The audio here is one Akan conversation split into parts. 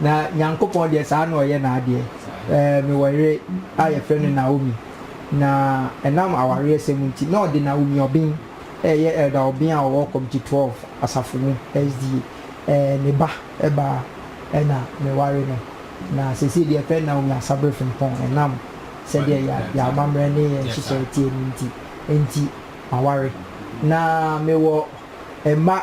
Na Nyankopɔn deɛ saa na ɔyɛ n'adeɛ. Ɛɛ, mewɔ yere a yɛfrɛ no Naomi, na ɛnam awareɛsɛm nti, na ɔde Naomi Obeng, a ɛyɛ Elder Obeng a ɔwɔ Committee 12 asafo mu, SDA, ɛɛ, ne ba baa, ɛna meware no. Na seesei deɛ yɛfrɛ no Naomi Asabere Frimpong, ɛnam sɛdeɛ yɛn, yɛn amammerɛ ne yɛn nhyehyɛe teɛ no nti, enti, maware. Na mewɔ mma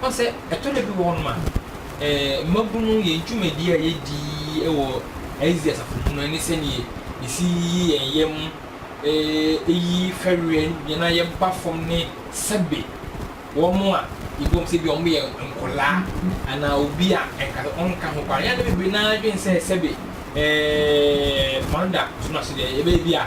Woahu sɛ ɛtɔ da bi wɔ hɔnom a, mmabun no, yɛn dwumadi a yedi wɔ ICC asafo mu no ne sɛnea yesi yi yɛn yam, eyi fɛreɛ yɛn a yɛba fam ne sɛbe wɔn a yɛbu wɔn sɛ ebia wɔyɛ nkwadaa anaa obi a anka ɔnka ho koraa. Yɛn a na bebree no ara dwen sɛ sɛbe mma no da so no ase deɛ, ɛbɛyɛ bi a,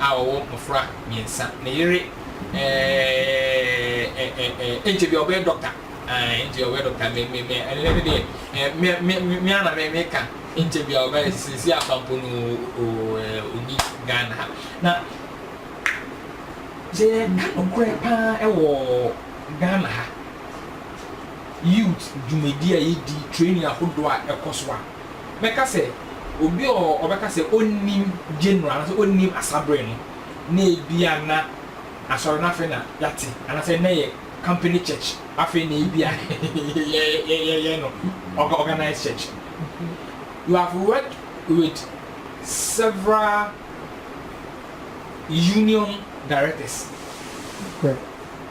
a ɔwɔ mmofra mmiɛnsa. Ne yere eh-eh-eh-eh-eh-eh, ɛnkyɛ biara ɔbɛyɛ dɔkta. Ah, ɛnkyɛ biara ɔbɛyɛ dɔkta. Me-me-me, ɛnnɛ no deɛ, eh, me-me-me, me ara na me-meka, ɛnkyɛ biara ɔbɛyɛ, seesei afa mpo no o-o-o, eh, ɔnni Ghana ha. Na sɛ yɛreka nokorɛ pa ara wɔ Ghana ha, youth dwumadie a yɛdi, training ahodoɔ a ɛkɔ so a, mɛka sɛ obi a ɔbɛka sɛ onnim January anaasɛ onnim asa bere no, na ebia na asɔre no afei na yɛate anaasɛ na ɛyɛ company church, afei na ebia yɛyɛ no organized church. You have worked with several union directors.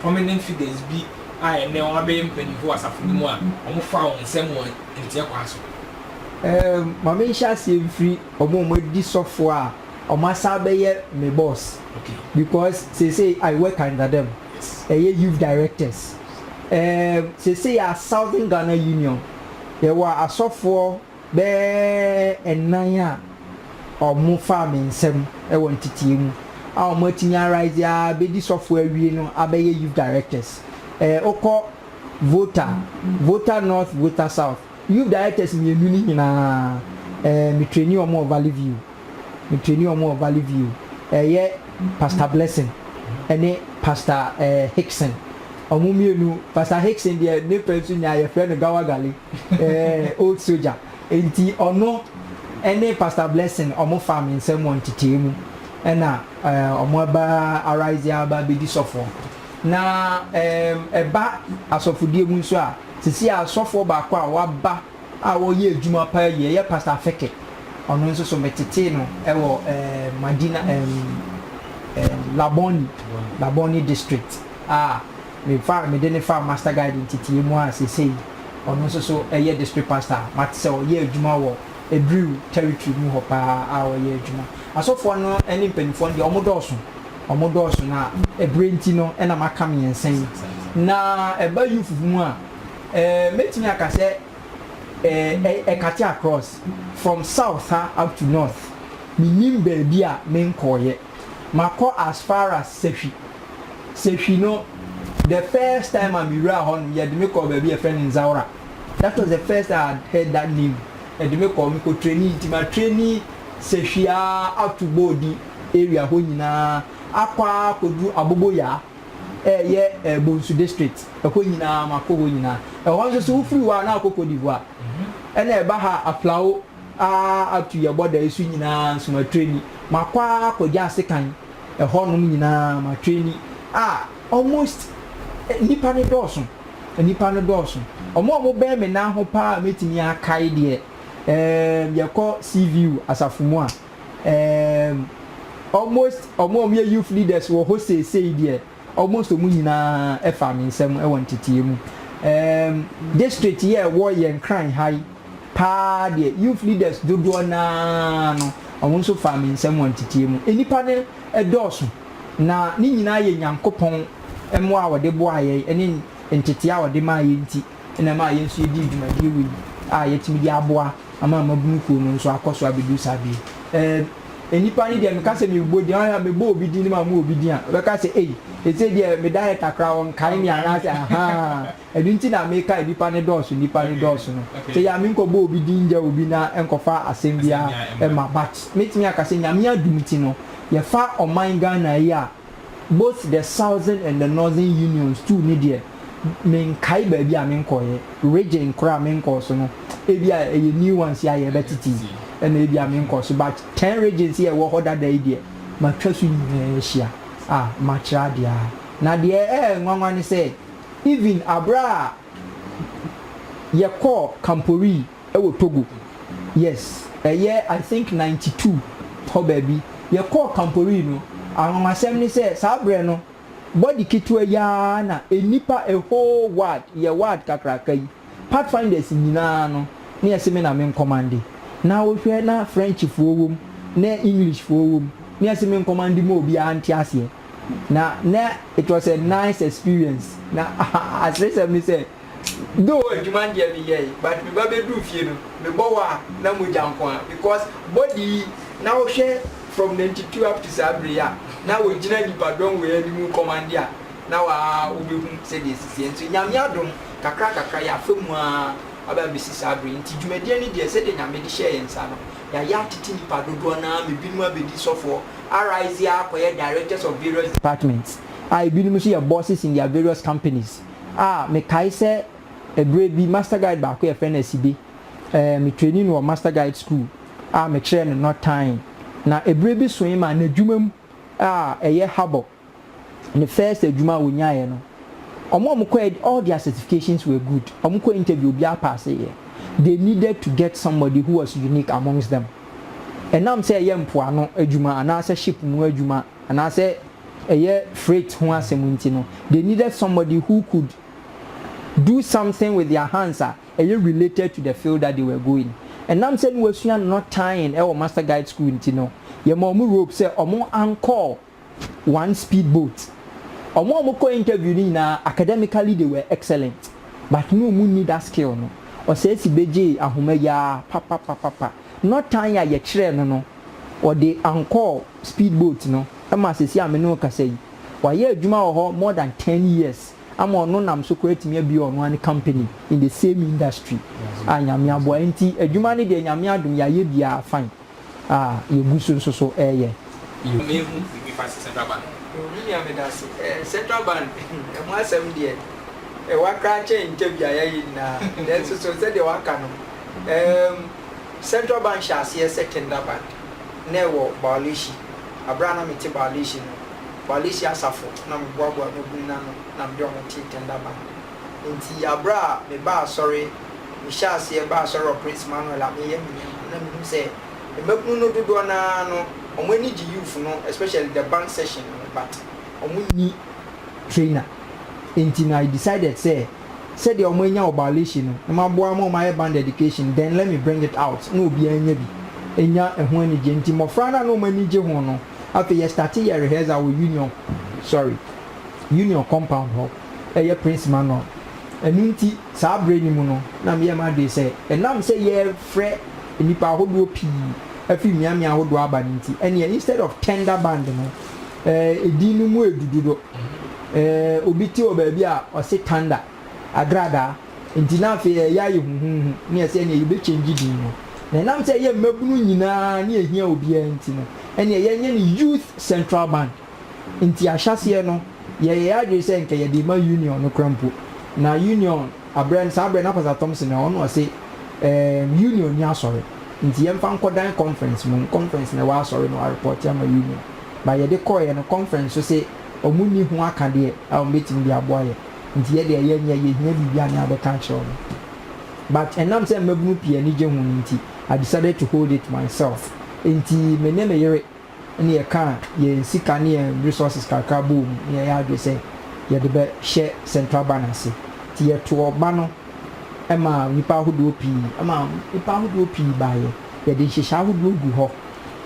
Prominent figures bi a ɛnnɛ wɔabɛyɛ mpanyimfo wɔ asafo no mu a wɔfaa wɔn nsɛm wɔ nteɛ kwan so. Ma menhyɛ aseɛ mfiri wɔn a wɔadi sɔfoɔ a wɔasan abɛyɛ me boss because seesei I work under them, ɛyɛ youth directors. Seesei yɛwɔ Southern Ghana Union, yɛwɔ asɔfoɔ. bɛyɛ nnan a wɔfaa me nsam wɔ nteteɛ mu a wɔatumi arise ara bɛdi sɔfoɔ awie no abɛyɛ youth directors. Wokɔ Volta, Volta North, Volta South, youth directors mmienu no nyinaa me traini wɔn wɔ Valley View, me traini wɔn wɔ Valley View, ɛyɛ Pastor Blessing ne Pastor Hickson. Wɔn mmienu, Pastor Hickson deɛ ne pɛ nso nyaa yɛfrɛ no Gawagale. Old Soldier, nti ɔno ne Pastor Blessing ɔmo faa me nsam wɔ ntetee mu ɛna ɔmo aba Arise aba abɛdi sɔfoɔ. Na ɛba asɔfodie mu nso a, sisi a sɔfoɔ baako a waba a ɔyɛ adwuma paa yie yɛ Pastor Afeke, ɔno nso so me tetee no wɔ Madina, Labone, Labone district a Mefaa mede no faa Master Guide nteteɛ mu a seesei ɔno nso so yɛ District Pastor a mate sɛ ɔyɛ adwuma wɔ Ebriw Territory mu hɔ paa a ɔyɛ adwuma. Asɔfoɔ no ne mpaninfoɔ no deɛ wɔn dɔɔso, wɔn dɔɔso na ɛberɛ nti no na maka mmiɛnsa yi. Na ɛba youth mu a, eh, mɛtumi aka sɛ eh, eh, ɛkate across, from south ha up to north, mennim baabi a menkɔeɛ. Makɔ as far as Sahwi. Sahwi no, the first time a mewuraa hɔ no, yɛde me kɔɔ baabi a yɛfrɛ no Nzaora. That was the first time I had heard that name. Yɛde me kɔɔ, mekɔ trainee nti ma traini Sahwi ara ato Boodi area hɔ nyinaa akɔ ara akɔduru Aboboyaa a ɛyɛ eh, Bonsu district. Ɛhɔ nyinaa makɔ hɔ nyinaa. Ɛhɔ nso so wofiri hɔ a na wokɔ Cote d'Ivoire. Ɛna ɛba ha a, Aflao. ara ato yɛn bɔdae so nyinaa nso matwe ani. Makɔ ara akɔgya asekan ɛhɔnom nyinaa, matwe ani. A almost nnipa no dɔɔso, nnipa no dɔɔso. Wɔn a wɔbɛn me nan ho pa ara a mɛtumi akae deɛ, ɛɛm, yɛkɔ Seaview asafo mu a, ɛɛm, almost wɔn a wɔyɛ youth leaders wɔ hɔ seesei deɛ, Almost wɔn nyinaa faa me nsam wɔ nteteɛ mu. Erm district yi a ɛwɔ yɛn kran ha yi paa deɛ youth leaders dodoɔ no ara no wɔn nso faa me nsam wɔ nteteɛ mu. Nnipa no dɔɔso na ne nyinaa yɛ Nyankopɔn mmoa a ɔde boaa yɛn ne nteteɛ a ɔde maa yɛn nti. na ɛmaa yɛn nso yɛdii dwumadie wei a yɛatumi de aboa ama mmabunu kuo no nso akɔ so abɛduru saa bere yi. Ɛɛ, nnipa no deɛ meka sɛ mebɔ din, ahwɛ a mebɔ obi din ma mo obi din a, ɔbɛka sɛ ei, ɛsei deɛ me director koraa ɔnkae me anaasɛ ahaa, ɛno nti na meka nnipa no dɔɔso, nnipa no dɔɔso no. Sɛ yɛ a menkɔbɔ obi din ngya obi na ɛnkɔfa asɛm biara mma but mɛtumi aka sɛ Nyame adom nti no, yɛfa ɔman Ghana yi a, Both the Southern and the Northern Unions tuu ne deɛ, menkae baabi a menkɔeɛ, region korɔ a menkɔɔ so no, ebia ɛyɛ new ones yi a yɛrebɛtete yi na ebia menkɔɔ so, but ten regions yi a ɛwɔ hɔ dada yi deɛ, matwa so nyinaa ahyia a makyerɛ adeɛ ara. Na deɛ ɛyɛ nwanwa ne sɛ, even aberɛ a yɛkɔɔ Kamporee, wɔ Togo, yes, ɛyɛ I think ninety two hɔ baabi, yɛkɔɔ Kamporee no, anwanwasɛm ne sɛ saa berɛ no body ketewa yi ara na nnipa a whole ward, yɛ ward kakraka yi, Pathfinders nyinaa no na yɛse me na me nkɔmande, na wohwɛ na Frenchfoɔ wɔ mu, na Englishfoɔ wɔ mu, na yɛse me nkɔmande ma obiara nte aseɛ, na na it was a nice experience, na aseresɛm ne sɛ Though adwuma deɛ me yɛe but me ba bɛduru fie no me bɔ wɔ a na mogya nko ara because body yi na wo hwɛ from ninety two up to saa bere yi a na wo gyina nnipa dɔm wei anim wo commande a na wa wo bɛhu sɛdeɛ ɛsisiɛ nso Nyame adom kakra kakra yɛ afa mu ara aba abɛsi saa bere yi nti dwumadie no deɛ sɛdeɛ Nyame de hyɛɛ yɛn nsa no yɛayɛ atete nnipa dodoɔ no ara ma binom abɛdi sɔfoɔ arise akɔyɛ directors of various departments a binom nso yɛ bosses in their various companies. A, mekae sɛ ɛberɛ bi master guide baako yɛfrɛ no Asibe, ɛɛ, me trainee no wɔ master guide school a mekyerɛɛ no no tan na ɛberɛ bi soe maa n'adwuma mu a ɛyɛ Harbour, ne first adwuma a ɔnyaeɛ no, wɔn a wɔkɔɛ all their certifications were good, wɔkɔɔ interview obiara paaseeɛ, they needed to get somebody who was unique amongst them, ɛnam sɛ ɛyɛ mpoano adwuma anaasɛ ship mu adwuma anaasɛ. ɛyɛ freight ho asɛm nti no, they needed somebody who could do something with their hands a ɛyɛ related to the field that they were going. Ɛnam sɛ na wɔasua knot tying ɛwɔ Master Guide School nti no, yɛmaa wɔn rope sɛ wɔn ancor one speed boat. Wɔn a wɔkɔɔ interview no nyinaa, academically they were excellent, but na wɔnni that skill no. Ɔsɛesi bɛgyee ahoma yi ara papapapapa. Nɔ tan a yɛkyerɛɛ no no, ɔde Ankɔɔ speed boat no ma sɛsi a me ne wo kasa yi. Wayɛ adwuma wɔ hɔ more than ten years ama ɔno nam so koraa atumi abue ɔno ara ne company in the same industry a Nyame aboa nti adwuma no deɛ Nyame adom yɛayɛ bi ara fine a yɛgu so nso so reyɛ. Yɛ me hu biribi fa central bank ho. Oh me nua medase eh central bank ɛho asɛm deɛ ɛwa koraa kyɛn ntɛbi a yɛayɛ nyinaa nanso so sɛdeɛ waka no. Erm Central Bank hyɛ aseɛ sɛ Kenda Bank na ɛwɔ Bawleshi. Aberɛ a na mete Bawleshi no, Bawleshi asafo na meboaboa mmabunu no ano na mede wɔn tee Kenda Bank. Enti aberɛ a mebaa asɔre, mehyɛɛ aseɛ baa asɔre wɔ Prince Manuel a meyɛ me nneɛma no na mehunu sɛ mmabunu no dodoɔ no ara no wɔn ani gye youth no especially the bank session no but wɔn nni trainer enti no I decided sɛ sɛdeɛ ɔmo anya obalation no na maboa ama ɔmo ayɛ band education then let me bring it out na obiaa anya bi anya ɛho anigyeɛ nti mmɔfra no a na ɔmo ani gye ho no afei yɛ starte yɛ rehearsal wɔ union sorry union compound hɔ ɛyɛ prince manual ɛno nti saa berɛ no mu no na meyɛ m'adwene sɛ ɛnam sɛ yɛrefrɛ nnipa ahodoɔ pii afiri mmeammea ahodoɔ aba no nti ɛneɛ instead of tender band no Eh, edin no mu edu dodo. Eh, obi te wɔ baabi a ɔse thunder, agradaa. Enti na afei ɛyɛ ayɛ huhuuhu ne yɛse ɛneɛ yɛbɛ change din no. Na ɛnam sɛ ɛyɛ mmabunu nyinaa ne ɛhia obiara nti no, ɛneɛ yɛnyɛ no Youth Central Band. Enti ahyɛaseɛ no, yɛyɛ yɛn adwene sɛ nka yɛde rema Union no koraa mpo. Na Union, aberɛ no, saa aberɛ no na Pastor Thompson wɔ hɔ, na ɔse, eh, Union nni asɔre, enti yɛmfa nkɔ dan conference mmom, conference na ɛwɔ asɔre na wɔarepɔɔte ama Union. but yɛde kɔeɛ no conference nso se ɔmo nni ho akadeɛ a ɔmo bɛtumi de aboa yɛn nti yɛ deɛ yɛnyɛ yɛhia biribi a ne yɛabɛka akyerɛ ɔmo but ɛnam sɛ mmabunu pii ani gye ho no nti I decided to hold it myself nti me ne me yere ne yɛkaa yɛn sika ne yɛn resources kakra bɔɔ mu ne yɛyɛ adwene sɛ yɛde bɛhyɛ central bank ase nti yɛtoo ɔba no maa nnipa ahodoɔ pii ɛmaa nnipa ahodoɔ pii baeɛ. Yɛde nhyehyɛe ahodoɔ gu hɔ,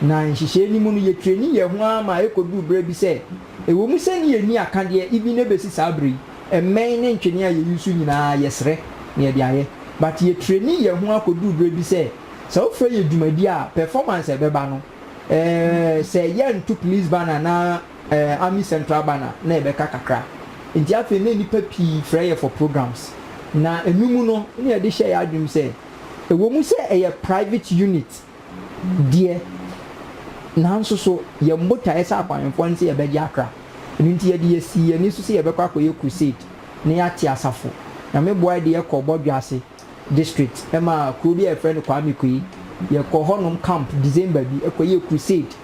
na nhyehyɛe no mu no yɛtrɛni yɛn ho ara ma ɛkɔduru berɛ bi sɛ, ɛwɔ mu sɛ ne yɛnni akadeɛ even na ɛbɛsi saa berɛ yi, mmɛn ne ntwene a yɛ use nyinaa yɛsrɛ na yɛde ayɛ. But yɛtrɛni yɛn ho ara kɔduru berɛ bi sɛ, sɛ wofrɛ yɛn dwumadie a, performance a ɛbɛba no, eh, sɛ yɛnto police banner anaa eh, army central banner na ɛbɛka kakra. Nti afei na nnipa pii frɛ yɛ for programs, na ɛno mu no na yɛde hyɛ yɛn adwenem sɛ, Ɛwom sɛ ɛyɛ private unit deɛ, nanso so yɛn botaeɛ sɛ akwahenfoɔ ne sɛ yɛbɛgye akra. Ɛno nti yɛde yɛsii yɛn ani so sɛ yɛbɛkɔ akɔyɛ crusade na yɛate asafo. Nyame boa yɛde yɛkɔɔ Bɔdwease district ma kuro bi a yɛfrɛ no Kwame Kwei. Yɛkɔɔ hɔnom camp December bi kɔyɛɛ crusade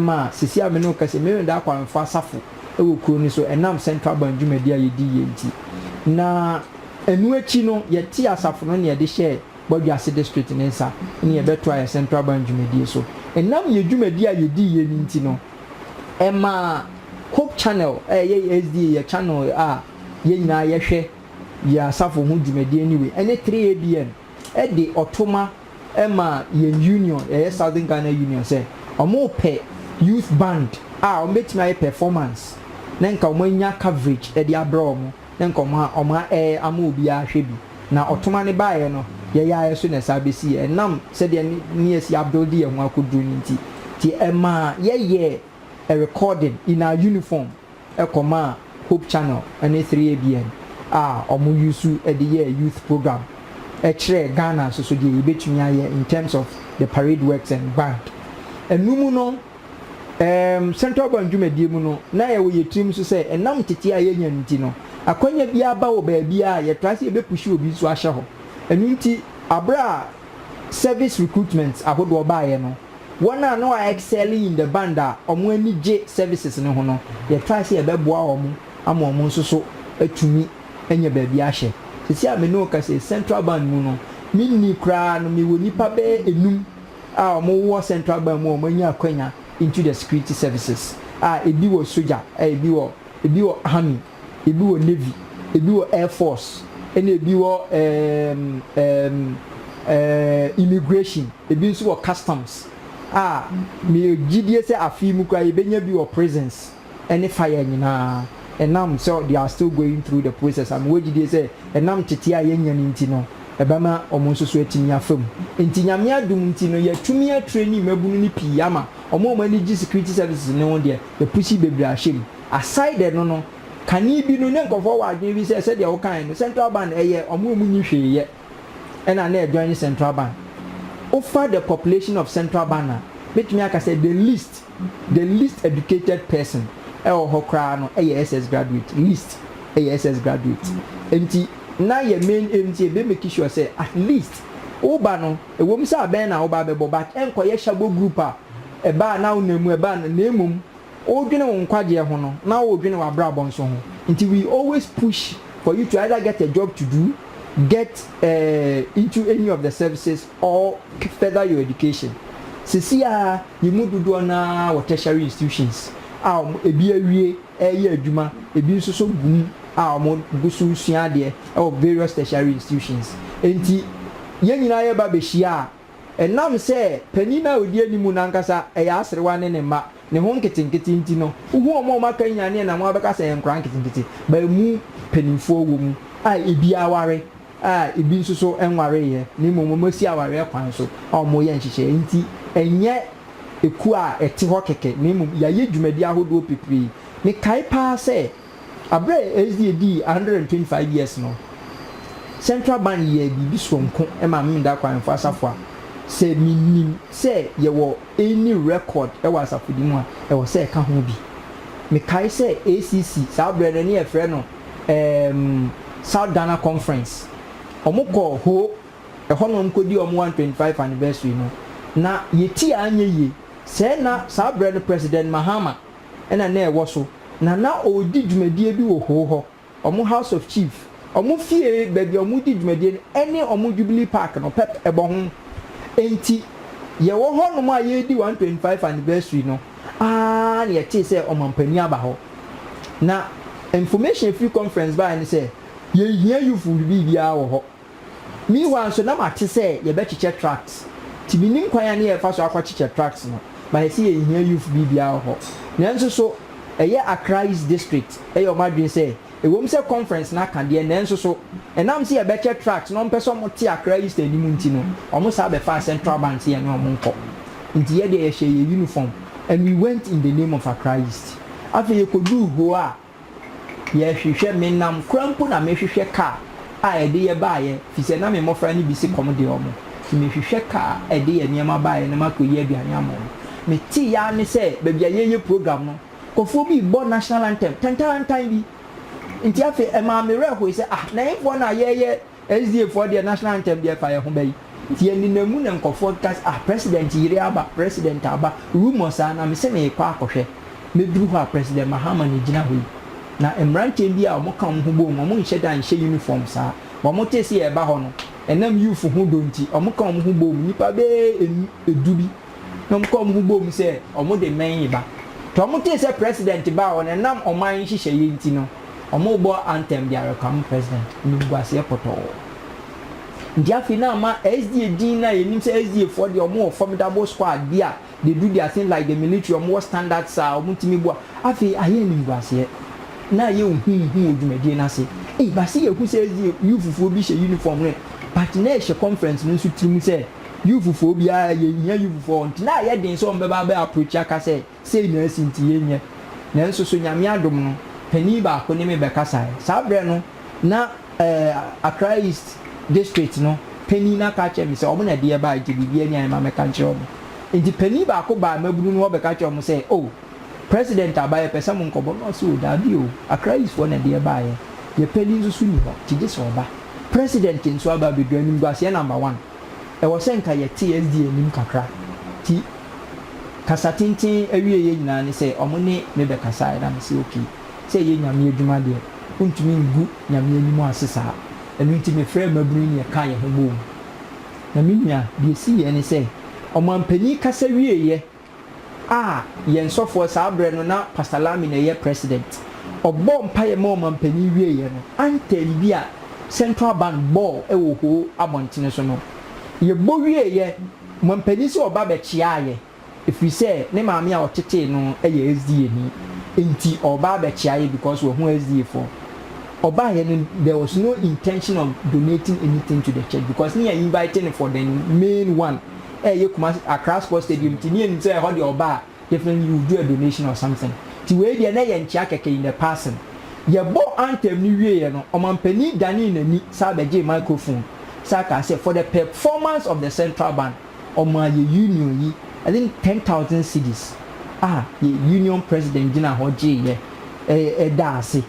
ma seesei a me ne wo kasa yi me ne da akwahenfoɔ asafo wɔ kuro no so ɛnam Central Bank dwumadie a yɛdiiɛ nti. Na. Ɛno akyi no, yɛtee asafo no nne de hyɛɛ Bɔdwoase District no nsa ne yɛbɛtoa yɛn Central Bank dwumadie so. Ɛnam yɛn dwumadie a yɛdiiɛ no nti no, ɛmaa Hope Channel a ɛyɛ yɛn SDA yɛn channel a yɛn nyinaa yɛhwɛ yɛn asafo ho dwumadie no wei ne 3ABN de ɔtoma maa yɛn union, ɛyɛ Southern Ghana Union sɛ wɔrepɛ youth band a wɔbɛtumi ayɛ performance na nka wɔanya coverage de abrɛ wɔn. nkɔmɔ a ɔma ɛɛ ama obiara hwɛ bi na ɔtoma no baeɛ no yɛyaeɛ so na ɛsaa bɛsiiɛ ɛnam sɛdeɛ ne ne asi abuilde yɛn ho akɔduru no nti nti ɛmaa yɛyɛɛ a recording in our uniform kɔmaa Hope Channel ne 3ABN a ɔmo use de yɛɛ youth program kyerɛɛ Ghana nso so deɛ yɛbɛtumi ayɛ in terms of the parade works and band ɛno mu no Ɛɛm, Central Bank dwumadie mu no, na yɛwɔ yɛn tirim nso sɛ ɛnam nteteɛ a yɛanya no nti no, akwanya biara ba wɔ baabiara a, yɛtaa sɛ yɛbɛpuhyi obi nso ahyɛ hɔ. Ɛno nti, berɛ a service recruitments ahodoɔ baeɛ no, wɔn a na wɔayɛ excelling in the band a wɔn ani gye services no ho no, yɛtraa sɛ yɛbɛboa wɔn ama wɔn nso so atumi anya baabi ahyɛ. Seesei a me ne wo kasa yi, Central Bank mu no, menni koraa no, mewɔ nnipa bɛyɛ nnum a wɔwɔ central bank mu a wɔanya akwanya into the security services a ebi wɔ sogya, ebi wɔ ebi wɔ army, ebi wɔ navy, ebi wɔ air force, ɛna ebi wɔ ɛɛm ɛɛm ɛɛm immigration, ebi nso wɔ customs a meyɛ gyidie sɛ afei mu koraa yɛbɛnya bi wɔ prisons. ne fire nyinaa ɛnam sɛ they are still going through the process a mewɔ gyidie sɛ ɛnam tete a yɛnnya no nti no ɛbɛma wɔn nso so atumi afa mu nti Nyame adom nti no yɛatumi a traini mmabunu no pii ama wɔn a wɔn ani gye security services no ho deɛ yɛpusi bebree ahyɛ mu aside ɛno no kane bi no na nkurɔfoɔ wɔ adwene bi sɛ sɛdeɛ wokaeɛ no central bank ɛyɛ wɔn a wɔn nni hwee yɛ ɛna na ɛjoin central bank wofa the population of central bank a mɛtumi aka sɛ the least The least educated person wɔ hɔ koraa no yɛ SS graduate, least yɛ SS graduate. Nti na yɛ main aim nti yɛbɛ make sure sɛ at least wo ba no, ɛwom sɛ abɛn na wo ba bɛbɔ but ɛnkɔyɛ hyabɔ group a ɛba a na wo nam mu ɛba a na mmom wodwene wo nkwagyeɛ ho no na wodwene w'abrabɔ nso ho. Nti we always push for you to either get a job to do, get eh into any of the services, or further your education. Sesei ara yɛn mu dodoɔ no ara wɔ tertiary institutions a wɔn ebi awie reyɛ adwuma, ebi nso so gu mu a wɔgu so resua adeɛ wɔ various tertiary institutions. Enti yɛn nyinaa yɛba bɛhyia a, ɛnam sɛ panin no a ɔdi anim no ankasa yɛ aserewa ne ne mma, ne ho nketenkete nti no, wohu wɔn a wɔakanyan no na wɔabɛka sɛ yɛn nkwadaa nketenkete, but ɛmu mpanimfoɔ wɔ mu a ebi aware. a ebi nso so nwareeɛ na mmom wɔasi awareɛ kwan so a wɔreyɛ nhyehyɛeɛ nti, ɛnyɛ ekuo a ɛte hɔ kɛkɛ na mmom yɛayɛ dwumadi ahodoɔ pepree. Mekae pa ara sɛ berɛ a SDA dii one hundred and twenty five years no, Central Band yɛɛ biribi soronko maa me Meda Akwaɛmfo Asafo a sɛ menim sɛ yɛwɔ any record wɔ asafodi mu a, ɛwɔ sɛ ɛka ho bi. Mekae sɛ ACC, saa berɛ no na yɛfrɛ no, ɛɛm South Ghana Conference, ɔmo kɔ Ho, ɛhɔ na ɔmo kɔ dii ɔmo 125 anniversary no, na yɛ ti a anyɛ yie, sɛɛ na saa berɛ no President Mahama na na ɛwɔ so, na na ɔɔdi dwumadie bi wɔ Ho hɔ, ɔmo House of Chief, ɔmo fie baabi a ɔmo di dwumadie no ɛne ɔmo Jubilee Park no pɛp ɛbɔ ho, ɛnti yɛwɔ hɔ nom a yɛɛdi 125 anniversary no. Aa na yɛtee sɛ ɔmanpanin aba hɔ na information a ɛfiri conference baeɛ ne sɛ yɛnhia youthful biribiara wɔ hɔ. Meanwhile nso na mate sɛ yɛbɛkyekyɛ tracts nti mennim kwan a ne yɛfa so akɔkyekyɛ tracts no but yɛse yɛnhia youth biribiara wɔ hɔ. Nanso so ɛyɛ Accra East District yɛ wɔn adwene sɛ Ɛwom sɛ conference no aka deɛ, nanso so ɛnam sɛ yɛbɛkyɛ tracts na wɔmpɛ sɛ wɔte Accra East anim nti no, wɔsan bɛfaa Central Bank sɛ yɛne wɔn nkɔ. Enti yɛn deɛ, yɛhyɛɛ yɛn uniform and we went in the name of Accra East. Afei yɛkɔduu hoo a, yɛhwehwɛ, menam koraa mpo na mehwehwɛ car a ɛde yɛn baeɛ, ɛfiri sɛ na me mmɔfra no bi se kɔm de wɔn, enti mehwehwɛ car a ɛde yɛn nneɛma baeɛ na makɔyi aduane ama wɔn. Meteeɛ ara ne sɛ baabi a yɛreyɛ program no, Kɔfoɔ bi rebɔ national anthem tantaantan bi nti afei ɛmaa me werɛ hoe sɛ ah na yɛnfoɔ no a yɛyɛ SDA foɔ deɛ national anthem deɛ ɛfa yɛn ho bɛyi nti yɛnenam mu na nkɔfoɔ keka sɛ ah president yere aba president aba rumour saa na mese merekɔ akɔhwɛ mɛduru hɔ a president Mahama na ɛgyina hɔ yi na mmeranteɛ bi a wɔn ka wɔn ho bom wɔn nhyɛ da nhyɛ uniform saa wɔn tee sɛ yɛreba hɔ no ɛnam youth ho dɔ nti wɔn ka wɔn ho bom nnipa bɛyɛ ɛnu ɛdu bi. na wɔn kɔn ho boom sɛ wɔn de mmɛn reba. Tɔ wɔn tee sɛ president ba a wɔn ɛnam ɔman nhyehyɛeɛ nti no wɔn rebɔ anthem de awɛkam president animguaseɛ pɔtɔɔ. Nti afei na ama SDA din no a yɛnim sɛ SDA foɔ deɛ wɔn wɔ formidable squad bi a they do their thing like the military wɔn wɔ standards a wɔn tumi boa afei ayɛ animguaseɛ na ayɛ ohuuhu wɔ dwumadie no ase ei base yɛhu sɛ SDA youthfoɔ bi hyɛ uniform no but na ɛhyɛ conference no nso tiri mu sɛ Youthfoɔ biara, yɛhia youthfoɔ, ɔntena a ɛyɛ den sɛ wɔbɛba abɛ approach aka sɛ sei na asi nti yɛnyɛ. Nanso so Nyame adom no, panin baako ne me bɛkasaeɛ. Saa berɛ no na ɛɛ Accra East District no panin no aka akyerɛ me sɛ wɔn na ɛde yɛn baeɛ nti biribiara ni a yɛmma mɛka nkyerɛ wɔn. Nti panin baako baa mmabunu no hɔ bɛka kyerɛɛ wɔn sɛ oh, President Aba yɛpɛ sɛ mo nkɔbɔ na ɔse o daabi o Accra East foɔ na ɛde yɛ baayɛ yɛ pɛ linso so ni hɔ nti gye sɛ ɔba President nso aba abɛduru animguaseɛ number one ɛwɔ sɛ nka yɛte SDA anim kakra nti kasa tenten awieɛ nyinaa ne sɛ ɔmo ne me bɛkasaɛ na me se ok sɛ ɛyɛ Nyame adwuma deɛ wontumi ngu Nyame anim ase saa ɛno nti me frɛɛ mmabunu yi na yɛkaa yɛho boom na me nua deɛ ɛsiiɛ ne sɛ ɔmanpanin kasa wieɛ a yɛn sɔfoɔ saa berɛ no na Pastor Lamy na ɛyɛ president, ɔbɔɔ mpaeɛ maa ɔmanpanin wieeɛ no, anthem bi a Central Band bɔɔ wɔ Ho abɔntene so no, yɛbɔ wieeɛ, ɔmanpanin sɛ ɔba bɛkyeaa yɛn, ɛfiri sɛ ne maame a ɔtetee no yɛ SDAni, nti ɔreba abɛkyea yɛn because wahu SDA foɔ. Ɔbaeɛ no, there was no intention of donating anything to the church because ne yɛ invite no for the main one. ɛyɛ Kumasi Accra Sports Stadium nti ne yɛnim sɛ ɛhɔ deɛ ɔba a definitely you will do a donation or something nti wei deɛ na ɛyɛ nkyea kɛkɛ in the passing. Yɛbɔɔ anthem no wieeɛ no ɔmanpanin danee n'ani san bɛgyee microphone san kaa sɛ for the performance of the Central Band ɔmaa yɛ union yi I think ten thousand cedis a yɛ union president gyinaa hɔ gyeeɛ ɛɛ daa ase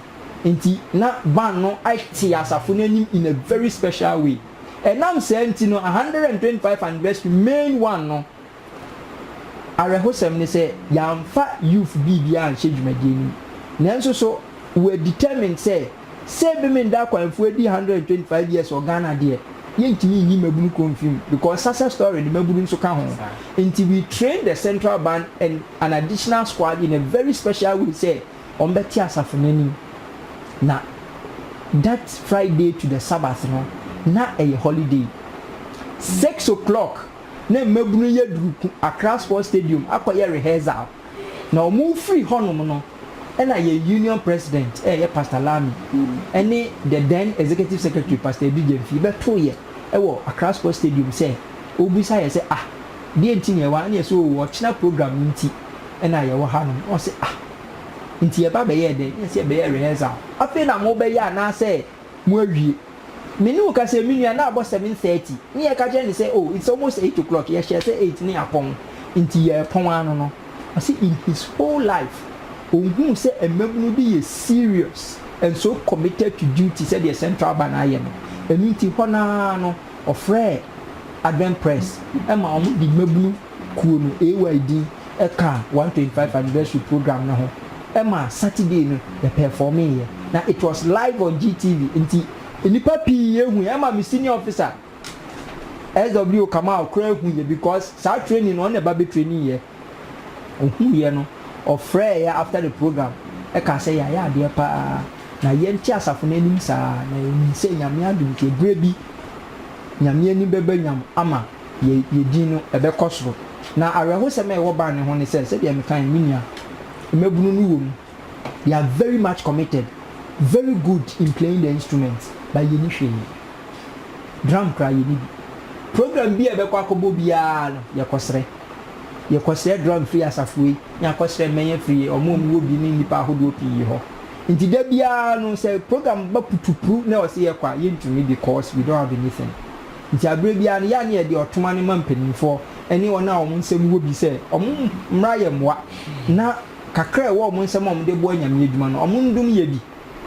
nti na band no te asafo no anim in a very special way. Ɛnam saa nti no, 125 anniversary main one no, awerɛhosɛm ne sɛ yɛamfa youth biribi anhyɛ dwumadie no mu. Nanso so we are determined sɛ sɛ bi me nda akwanfuo adi 125 years wɔ Ghana deɛ, yɛntumi nyi mmabunu kɔ mfi mu because Sasa story no mmabunu nso ka ho. Nti we trained the central band and an additional squad in a very special way sɛ wɔbɛte asafo no anim. Na that Friday to the Sabbath no, na ɛyɛ holiday. Six o'clock na mmabunu yi aduru Accra Sports Stadium akɔyɛ rehearsal. Na wɔrefiri hɔnom no, ɛna yɛn Union President a ɛyɛ Pastor Lami ne the then Executive Secretary Pastor Edu Gyamfi bɛtoo yɛ wɔ Accra Sports Stadium sɛ wɔrebisa yɛ sɛ, Ah, deɛ nti na yɛwɔ ha? Ɛne yɛ sɛ, Oo, ɔkyena program nti. na yɛwɔ hanom. Ɔse, Ah, nti yɛba bɛyɛɛ dɛn? Yɛse yɛbɛyɛɛ rehearsal. Afei na mobɛyɛ anaasɛ moawie? Me ne wo ka sɛ, me nua, na abɔ seven thirty. Ne yɛka kyerɛɛ no sɛ, Oh, it's almost eight o'clock. Yɛhyɛɛ sɛ eight ne yɛapɔn, nti yɛrepɔn ara no no. Ɔse in his whole life, ɔnhuu sɛ mmabunu bi yɛ serious and so committed to duty sɛdeɛ Central Bank ayɛ no. Ɛno nti hɔ no ara no, ɔfrɛɛ Adventpress ma wɔde mmabunu. Kuo no AY din kaa one twenty five anniversary program no ho ma Saturday no yɛ pɛɛfɔɔmee yɛ na it was live on GTV nti nnipa pii hu yɛ ɛma me senior officer SW Kamal koraa hu yɛ because saa training no ɔna ɛba bɛ training yɛ ɔhuu yɛ no ɔfrɛɛ yɛ after the program ɛkaa sɛ yɛayɛ adeɛ paa na yɛ nte asafo no anim saa na yɛ nim sɛ Nyame adom nti ɛberɛ bi Nyame ani bɛba nyam ama yɛ yɛ din no, ɛbɛkɔ soro. Na awerɛhosɛm a ɛwɔ ban no ho ne sɛ, sɛdeɛ mekae no, me nua, mmabunu no wɔ mu, they are very much committed, very good in playing the instruments, but yɛnni hwee. Drum koraa, yɛnni bi. Program bi a yɛbɛkɔ akɔbɔ biara no, yɛkɔsrɛ. Yɛkɔsrɛ drum firi asafo wei, na yɛakɔsrɛ mmɛn afiri wɔn a wɔwɔ bi ne nnipa ahodoɔ pii hɔ. Nti da biara no, sɛ program ba putupru na wɔse yɛkɔ a, yɛntumi because we don't have anything. Nti aberɛ biara no, yɛ a ne yɛde ɔtoma no ma mpanimfoɔ ne wɔn a wɔn nsam wɔ bi sɛ wɔmmra yɛn mmoa na kakra a ɛwɔ wɔn nsam a wɔde boa Nyame adwuma no, wɔndom yɛ bi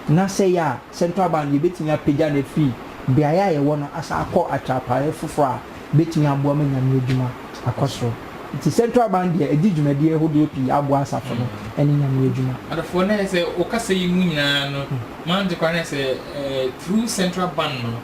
na sɛ ɛyɛ a Central Bank no yɛbɛtumi apagya no afiri beaeɛ a yɛwɔ no asan akɔ atrapaeɛ foforɔ a ɛbɛtumi aboa ma Nyame adwuma akɔ soro. Nti Central Bank deɛ ɛdi dwumadie hodoɔ pii aboa asafo no ne Nyame adwuma. Adɔfoɔ, na ayɛ sɛ wɔ kasa yi mu nyinaa no, m'agyenkwa no ayɛ sɛ through Central Bank no,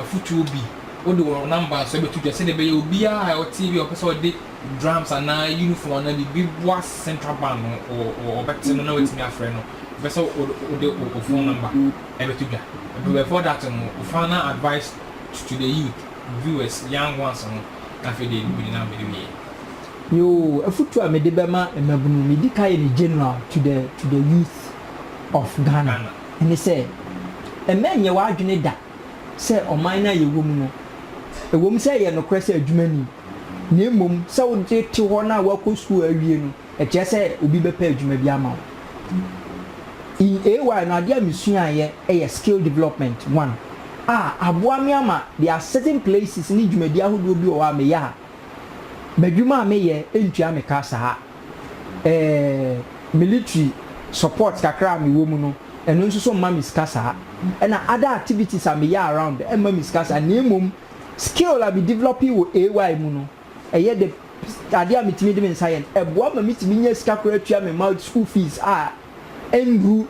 afutuo bi, wode wo number nso bɛto dwa sɛdeɛ ɛbɛyɛ obiara a ɔte ebi a ɔpɛ sɛ ɔde drums anaa uniform anaa biribi boa central band no ɔbɛte no na watumi afrɛ no bɛ sɛ wode wo phone number ɛbɛto dwa. But before that no, wo final advice to, to the youth, viewers, young ones no na afei deɛ mede na mede wieɛ. Yoo, afutuo a mede bɛma mmabunu, medi kan yɛ no general to the, to the youth of Ghana. ne sɛ mma nnyɛ w'adwene da sɛ ɔman no a yɛwɔ mu no, ɛwom sɛ ɛyɛ nokorɛ sɛ adwuma nni mu, na mmom sɛ wode te hɔ na woakɔ sukuu awie no, ɛkyerɛ sɛ obi bɛpɛ adwuma bi ama wo. In AY no, adeɛ a mesuaeɛ yɛ Skill Development one a aboa me ama there are certain places ne dwumadie ahodoɔ bi wɔ hɔ a meyɛ a, m'adwuma a meyɛ ntua me ka saa. eh, military support kakra a mewɔ mu no, ɛno nso so mma me sika saa. Ɛna other activities a meyɛ around mma me sika saa, na mmom skill a me developee wɔ AY mu no, ɛyɛ the adeɛ a metumi de me nsa yɛ no, ɛboa ma metumi nya sika koraa tua me mma school fees a nhu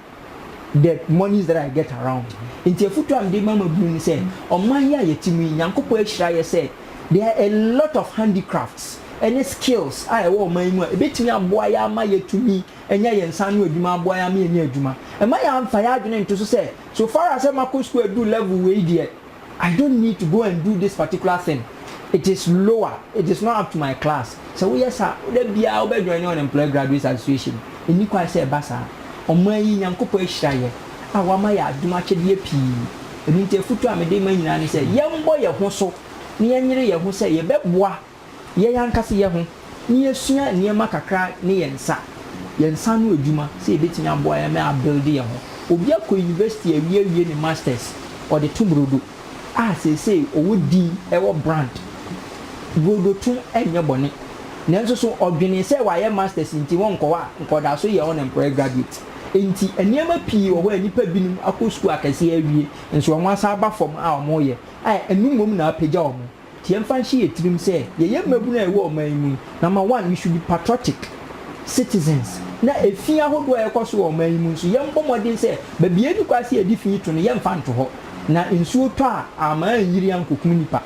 the monies that I get around. Nti afutu a mede ma mmabunu ne sɛ, ɔman yi a yɛte mu yi, Nyankopɔn ahyira yɛ sɛ there are a lot of handicrafts ne skills a ɛwɔ ɔman yi mu a ɛbɛtumi aboa yɛ ama yɛatumi anya yɛn nsa ano adwuma, aboa yɛ ama yɛanya adwuma. Mma yɛamfa yɛn adwene nto so sɛ, so far as sɛ makɔ sukuu aduru level wei deɛ, I don't need to go and do this particular thing, it is lower, it is not up to my class. Sɛ woyɛ saa a, da biara wobɛjoine Unemployed Graduates Association. Ɛnni kwan sɛ ɛba saa. Ɔman yi, Nyankopɔn ahyira yɛn a wama yɛn adom akyɛdeɛ pii. Ɛno nti afotuo a mede rema nyinaa ne sɛ, yɛmmɔ yɛn ho so na yɛnyere yɛn ho sɛ yɛbɛboa. yɛn ankasa yɛ ho na yɛasua nneɛma kakra ne yɛn nsa, yɛn nsa ano adwuma sɛ yɛbɛtumi aboa yɛn ma abuilde yɛn ho. Obi akɔ university awie awie ne masters, ɔde to brodo a seesei ɔwɔ din, ɛwɔ brand. Brodo to nyɛ bɔne, nanso so ɔdwenee sɛ wayɛ masters nti ɔnkɔ hɔ a nka ɔda so yɛ unemployed graduate. Enti nneɛma pii wɔ hɔ a nnipa binom akɔ sukuu akɛseɛ awie nso wɔasan aba fam a wɔreyɛ a ɛno mmom na apagya wɔn. Nti yɛmfa nhyɛ yɛn tirim sɛ yɛyɛ mmabunu a ɛwɔ ɔman yi mu yi. Number one, we should be patriotic citizens. Na efi ahodoɔ a ɛkɔ so wɔ ɔman yi mu nso, yɛmbɔ mmɔden sɛ baabi a yɛnni kwan sɛ yɛde fi to no, yɛmfa nto hɔ. Na nsuo tɔ a, ama anyiri ankɔkum nnipa.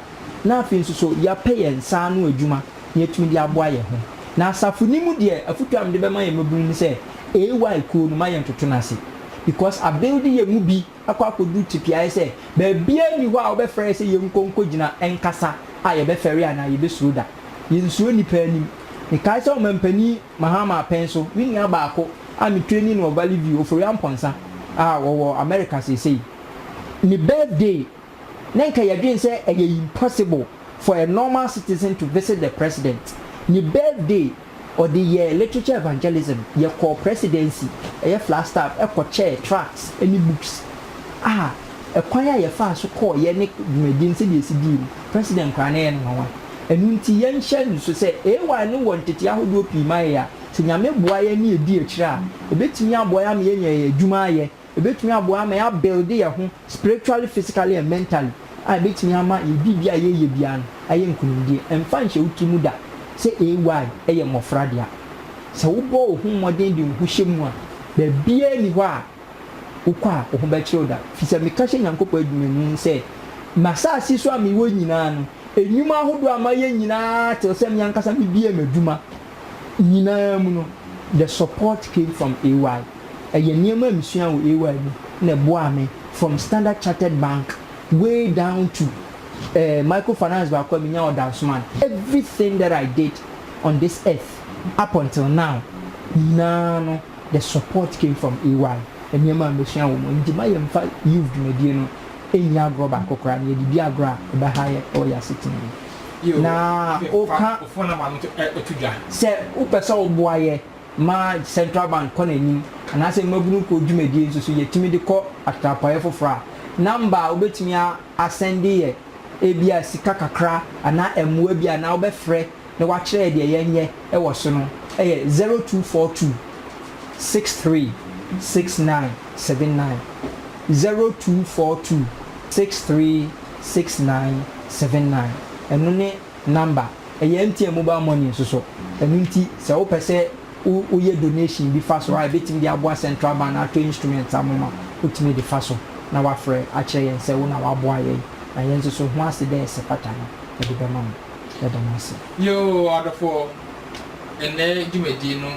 Na afei nso so, yɛapɛ yɛn nsa ano adwuma na yɛatumi de aboa yɛn ho. Na asafo no mu deɛ, afotuo a mede bɛma yɛn mmabunu ne sɛ, AY kuo no, ma yɛntoto no ase. Because abuild yɛn mu bi. akɔ akɔduru tipiaeɛ sɛ baabiara nni hɔ a wobɛfrɛ yɛ sɛ yɛnkɔ nkɔgyina nkasa a yɛbɛfɛre anaa yɛbɛsuro da. Yɛnsuro nnipa anim. Mekae sɛ Ɔmampanin Mahama Apɛn so, me nua baako a me training wɔ Valley View, Ofori Amponsah, a ɔwɔ America seesei, ne birthday na nka yɛdwene sɛ ɛyɛ impossible for a normal citizen to visit the President. Ne birthday. Ɔde yɛɛ literature evangelism. Yɛkɔɔ Presidency, ɛyɛ Flagstaff, kɔkyɛɛ tracts ne books a ɛkwan a yɛfaa so kɔɔ yɛ ne dwumadi no sɛdeɛ ɛsi dii no, President koraa na ɛyɛ no nwanwa. Ɛno nti yɛnhyɛ nniso sɛ AY no wɔ ntetee ahodoɔ pii ma yɛn a sɛ Nyame boa yɛn na yɛdi akyire a ɛbɛtumi aboa yɛn ama yɛanya yɛn adwuma ayɛ. Ɛbɛtumi aboa ama yɛ abuilde yɛ ho spiritually, physically and mentally a ɛbɛtumi ama yɛ biribiara a yɛreyɛ biara no ayɛ nkunimdie. Ɛmfa nhyɛ wo tiri mu da sɛ AY yɛ mmɔfra dea. Sɛ wobɔ wo ho mmɔden de wo ho hyɛ mu a, baabiara nni hɔ a wokɔ a wo ho bɛkyere wo da. Firi sɛ meka hyɛ Nyankopɔn adwuma mu sɛ, M'asaase so a mewɔ nyinaa no, nnwuma ahodoɔ a mayɛ nyinaa te sɛ me ankasa mebiee m'adwuma nyinaa mu no, the support came from AY. Ɛyɛ nneɛma a mesuaa wɔ AY mu na ɛboaa me from Standard Chartered Bank way down to eh, micro finance baako a menyaa wɔ Dansoman. Everything that I did on this earth up until now nyinaa no, the support came from AY. Nneɛma a mesua wɔ mu. Enti ma yɛmfa youth dwumadie no nni agorɔ baako koraa na yɛde di agorɔ a, ɛbɛha yɛn wɔ yɛn asetena mu. na woka sɛ wopɛ sɛ woboa yɛ ma Central Bank kɔ n'anim anaasɛ mmabunu kuo dwumadie nso so yɛtumi de kɔ atrapoeɛ foforɔ a, number a wobɛtumi asɛnde yɛ ebia sika kakra anaa mmoa bi anaa wobɛfrɛ na woakyerɛ yɛ deɛ yɛnyɛ wɔ so no yɛ 0242 63 69 79 0242 63. Six nine seven nine ɛno ne number ɛyɛ MTN mobile money nso so ɛno nti sɛ wopɛ sɛ wo woyɛ donation bi fa so a ɛbɛtumi de aboa central bank no atɔ instruments amom a wotumi de fa so na wafrɛ akyerɛ yɛn sɛ wo na waboa yɛn na yɛn nso so ho ase dɛ sɛ pata no yɛde bɛma mo yɛda mo ase. Yoo adɔfoɔ, ɛnnɛ dwumadie no.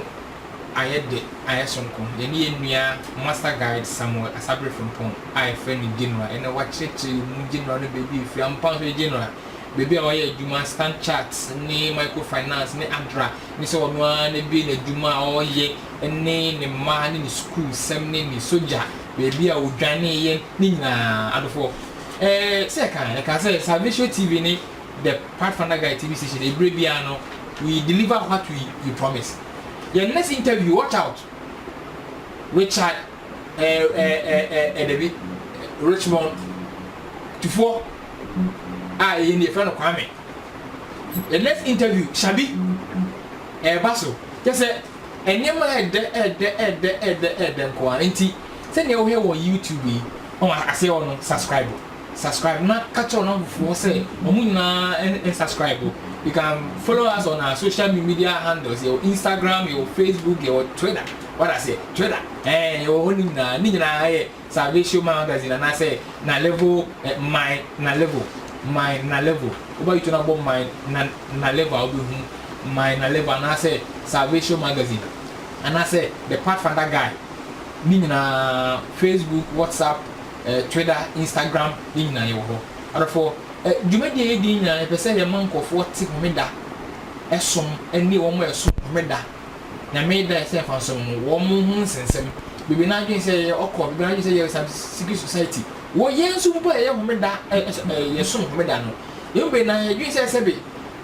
ayɛ de ayɛ sononko. Yɛne yɛn nua Master Guide Samuel Asabere Frimpong a yɛfrɛ no General ɛna wakyerɛkyerɛ mu, General no baabi a ɔfiri ampa nso yɛ General, baabi a ɔyɛ adwuma, Standard Chartered ne Micro Finance ne adra ne sɛ ɔno ara na abue n'adwuma a ɔyɛ ne ne mma ne ne sukuu sɛm ne ne sogya baabi a ɔdwaneeɛ ne nyinaa. Adɔfoɔ, ɛɛ sɛ yɛka a, yɛka sɛ Salvation TV ne the pathfinder guy tv station ebire biara no we deliver what we we promise yɛn next interview watch out richard ɛɛ ɛɛ ɛɛ ɛdɛbi richmond tufoɔ a ɛyɛ ne yɛfrɛ no kwame yɛn next interview shabi ɛɛba so kyɛ sɛ nneɛma ɛɛdɛ ɛɛdɛ ɛɛdɛ ɛɛdɛ ɛɛdɛ nkoa nti sɛdeɛ wohwɛ wɔ youtube yi wɔn aseɛ wɔ no subscribe. subscribe na ka kyerɛ ɔnamfo foɔ sɛ ɔmo nyinaa n subscribe o you can follow us on our social media handles yɛwɔ Instagram yɛwɔ Facebook yɛwɔ Twitter wada aseɛ Twitter ɛɛ eh, yɛwɔ hɔ ne nyinaa ne nyinaa yɛ Salvation Magazine anaasɛ na level eh, my na level my na level wobɛyi to no abɔ my na na level a wobɛhu my na level anaasɛ Salvation Magazine anaasɛ the Pathfinder Guy ne nyinaa Facebook WhatsApp Twitter, Instagram ne nyinaa yɛwɔ hɔ. Adɔfoɔ, dwumadie a yɛdi nyinaa yɛpɛ sɛ yɛma nkurɔfoɔ te homeda som ne wɔn a ɛsom homeda, Nyame da a ɛsɛ mfaniso no mu, wɔn ho nsensɛm. Bebree no adwene sɛ yɛyɛ ɔkɔ, bebree no adwene sɛ yɛyɛ some secret society. Wɔ yɛn nso mpo a yɛyɛ homeda, yɛsom homeda no, yɛn mu bebree no ara yɛdwene sɛ sɛbe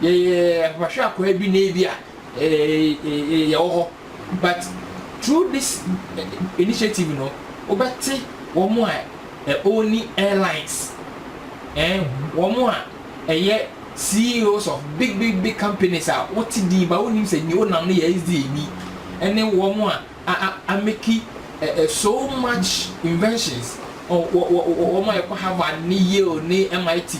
yɛyɛ apapahwɛ akwaa bi na ebia yɛwɔ hɔ. But through this initiative no wobɛte wɔn a ɛ ɔnni airlines ɛɛ wɔn a ɛyɛ CEOs of big big big companies a wote din ba wonnim sɛ nea onam no yɛ SDA ni ɛne wɔn a a a ameki ɛ ɛ so much inventions ɔ wɔ wɔ wɔn a ɛkɔ Harvard ne Yale ne MIT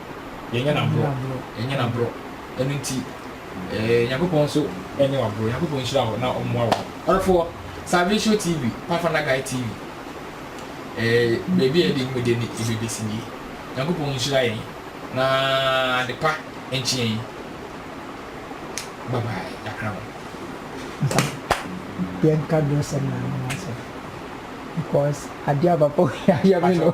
Yɛnyɛ no aborɔ, yɛnyɛ no aborɔ, ɛno nti eh, Nyankopɔn nso ɛnyɛ wo aborɔ, Nyankopɔn nhyira wo na ɔmmoa wo. Ɔdɔfoɔ, Salvation TV, Pathfinder Guide TV, eh, baabi a yɛde nnwuma deɛ ne ɛbɛbɛsi nie. Nyankopɔn nhyira yɛn na adepa nkye yɛn. Bye bye, yɛakra mo. Nsa, yɛnka dosɛm na ano asɛm because adeɛ a papa wei ayɛ me no.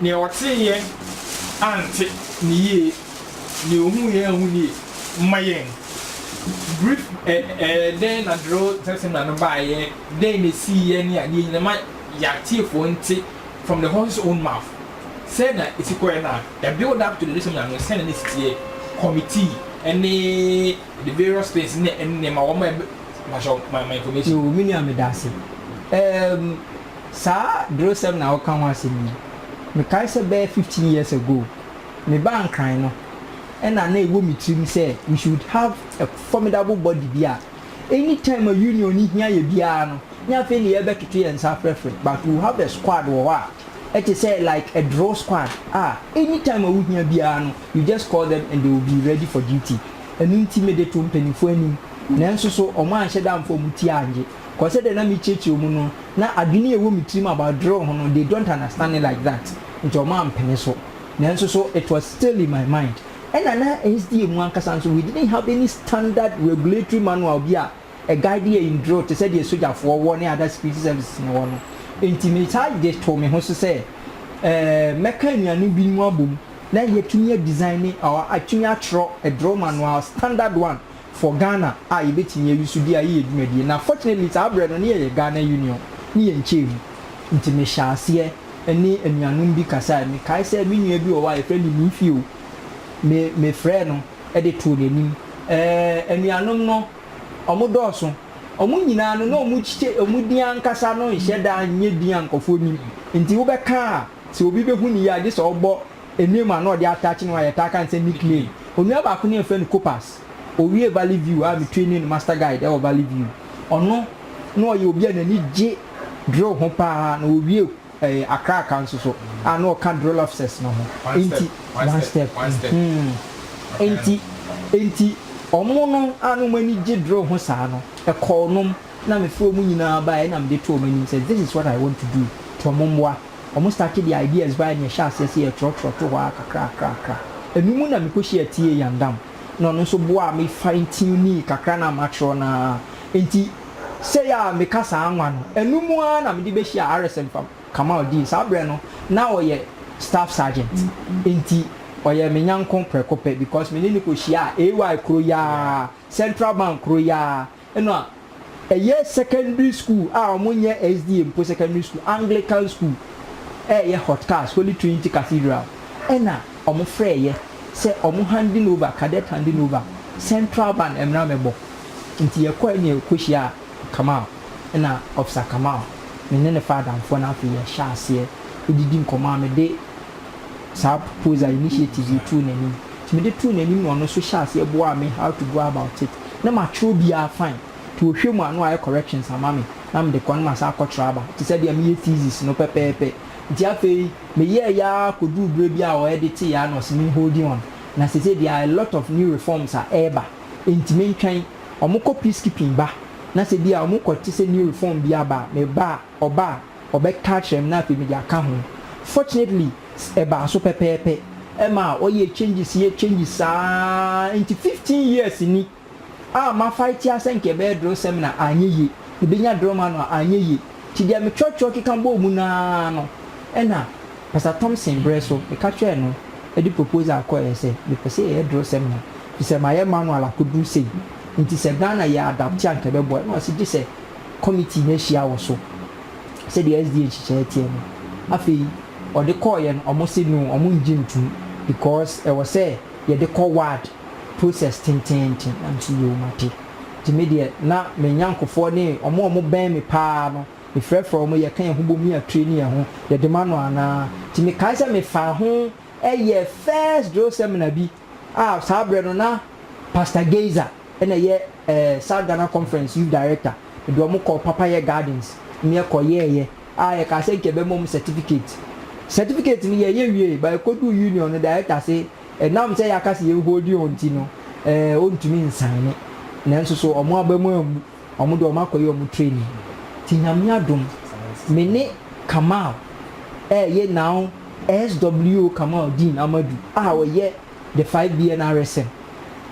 Nea ɔteeɛ ante no yie, nea ɔhuuiɛ anhu no yie. Ma yɛn brief ɛ ɛ dɛn na Drill Tent Seminar no baeɛ, dɛn na ɛsiiɛ ne adeɛ nyinaa ma yɛn atiefoɔ nte from the horse's own mouth sɛn na ɛsi kɔeɛ na the build up to the day seminar no sɛn na na ɛsi teɛ, committee ne the various things ne nneɛma wɔn a ɛbɛ mpakyɛw ma ma information. Yoo, me nua meda ase. Ɛɛm, Saa drosɛm na woka ho asɛm yi, mekae sɛ bɛyɛ fifteen years ago, mebaa Nkran no, ɛna na ɛwɔ me tirim sɛ we should have a formidable body bi a any time a Union no hia yɛ biara no, nyɛ afei na yɛrebɛtoto yɛn nsa afrɛfrɛ, but we will have a squad wɔ hɔ a ɛte sɛ like a drill squad a any time a wohia biara no you just call them and they will be ready for duty. Ɛno nti mede too mpaninfoɔ anim, nanso so wɔanhyɛ da amfa wɔn ti angye. 'Cause sɛdeɛ na merekyerɛkyerɛ wɔn no, na adwene a ɛwɔ me tirim about drill ho no, they don't understand it like that, nti wɔn ampene so. Nanso so, it was still in my mind. Ɛna na SDA mu ankasa nso, we didn't have any standard regulatory manual bi a ɛ guide yɛn in drill te sɛ deɛ sogyafoɔ wɔ ne other security services no wɔ no. Nti me saa gye too me ho so sɛ eh, mɛka anuanom binom abom na yɛatumi a design ne or atumi atwerɛ a drill manual, standard one, for Ghana a yɛbɛtumi ayi so di a yɛyɛ dwumadie na fortunately saa berɛ no ne yɛyɛ Ghana Union ne yɛn nkyɛɛ mu nti me hyɛɛ aseɛ ɛne anuanom bi kasaɛ me kae sɛ me nua bi wɔ hɔ a yɛfrɛ no Nifio me me frɛɛ no de too n'anim ɛɛ anuanom no ɔmo dɔɔso ɔmo nyinaa no na ɔmo kye ɔmo din ankasa no nhyɛ da nyɛ din a nkorɔfoɔ nim nti wobɛka a sɛ obi bɛhu no yie a gye sɛ ɔbɔ Name a na ɔde ataakye ne ho a yɛtaa ka no sɛ nickname. Onua baako ne yɛfrɛ no Copas. Owiee Valley View a metuei ne no Master Guide wɔ Valley View. Ɔno na ɔyɛ obi a n'ani gye drill ho pa ara na owiee ɛɛ Accra Aka nso so a na ɔka drill officers no ho. Enti one step mm-hmm. Enti enti wɔn no a na wɔn ani gye drill ho saa no, ɛkɔɔ wɔn na mefrɛɛ wɔn nyinaa baeɛ na mede too wɔn anim sɛ this is what I want to do nti wɔn mmoa. Wɔn starte de ideas bae na yɛhyɛ aseɛ sɛ yɛtwerɛtwerɛ to hɔ ara kakrakrakra. Ɛno mu na me kɔhyiaa T. A. Yandam na ɔno nso boaa me fine tunee kakra no a matwerɛ no ara. Enti sei a meka saa nwa no, ɛno mu ara na mede bɛhyiaa RSM Fam Kamal Dean. Saa berɛ no, na ɔyɛ Staff Sergeant. Enti ɔyɛɛ me nyɔnko prɛko pɛ because me ne no kɔhyiaa AY kuro yi ara, Central Bank kuro yi ara. no a, ɛyɛ secondary school a wɔnyɛ SDA mpo secondary school, Anglican school, ɛreyɛ hot cast, Holy Trinity Cathedral, ɛna wɔfrɛeɛ sɛ wɔn handing over, cadet handing over, central band mmra mmɛbɔ. Nti yɛkɔeɛ na yɛkɔhyiaa Kamal, ɛna Officer Kamal, me ne no faa adamfoɔ na afei yɛhyɛɛ aseɛ didi nkɔmmɔ a mede saa proposal initiative yi too n'anim nti mede too n'anim na ɔno nso hyɛɛ aseɛ boaa me how to go about it na matwerɛ biara fine nti ɔhwɛ mu a na wayɛ corrections ama me na mede kɔ na masan akɔtwerɛ aba te sɛ deɛ meyɛ thesis no pɛpɛɛpɛ nti afei meyɛɛyɛ ara kɔduruu berɛ bi a ɔ editeeɛ a na ɔse me holding on na seesei there are a lot of new reforms a ɛreba nti mentwɛn wɔkɔ peacekeeping ba na sɛ bi a wɔkɔ te sɛ new reform bi aba a meba a Ɔba a, ɔbɛka akyerɛ me na afei mede aka ho. Fortunately, ɛbaa so pɛpɛɛpɛ. Ɛma ɔyɛ changes yɛ changes saa ara nti fifteen years ni a ma fight ara sɛ nka ɛbɛyɛ Drɔ seminar anyɛ yie, mebɛnya Drɔ manual anyɛ yie. Nti deɛ me twerɛtwerɛ keka bɔɔ mu no ara no ɛna Pastor Thompson berɛ so meka kyerɛɛ no de proposal kɔeɛ sɛ mepɛ sɛ yɛyɛ Drɔ seminar firi sɛ mayɛ manual akɔduru sei nti sɛ Ghana yɛ adapte a nka ɛbɛboa. Ɛna ɔse gye sɛ Committee no ahyia wɔ so sɛdeɛ SDA nhyehyɛeɛ teɛ no. Afei ɔde kɔeɛ no ɔmo se no ɔmo ngye ntum because ɛwɔ sɛ yɛde kɔ ward process tenteenten na me se yoo mate. Nti me deɛ na me nyankofoɔ ne ɔmo a ɔmo bɛn me paa no me frɛfrɛ ɔmo yɛka yɛn ho bom ne yɛ traini yɛn ho yɛde ma no anaa. Nti me kae sɛ me faa ho yɛɛ first drill seminar bi. a saa berɛ no na Pastor Geyser na ɛyɛ ɛɛ South Ghana Conference Youth Director, mede wɔn kɔɔ Papayɛ Gardens na yɛkɔyɛeɛ a yɛkaa sɛ nka yɛbɛma wɔn certificate. Certificate no yɛyɛ wiee but yɛkɔduu Union no Director se ɛnam sɛ yɛaka sɛ yɛn hold wɔn nti no ɛɛ ɔntumi nsaene nanso so wɔn aba mu ammu. Ɔmo deɛ ɔmo akɔyɛ ɔmo training nti Nyame adom me ne Kamal ɛɛyɛ now SWO Kamaldeen Amadu a ɔyɛ the 5BN RSM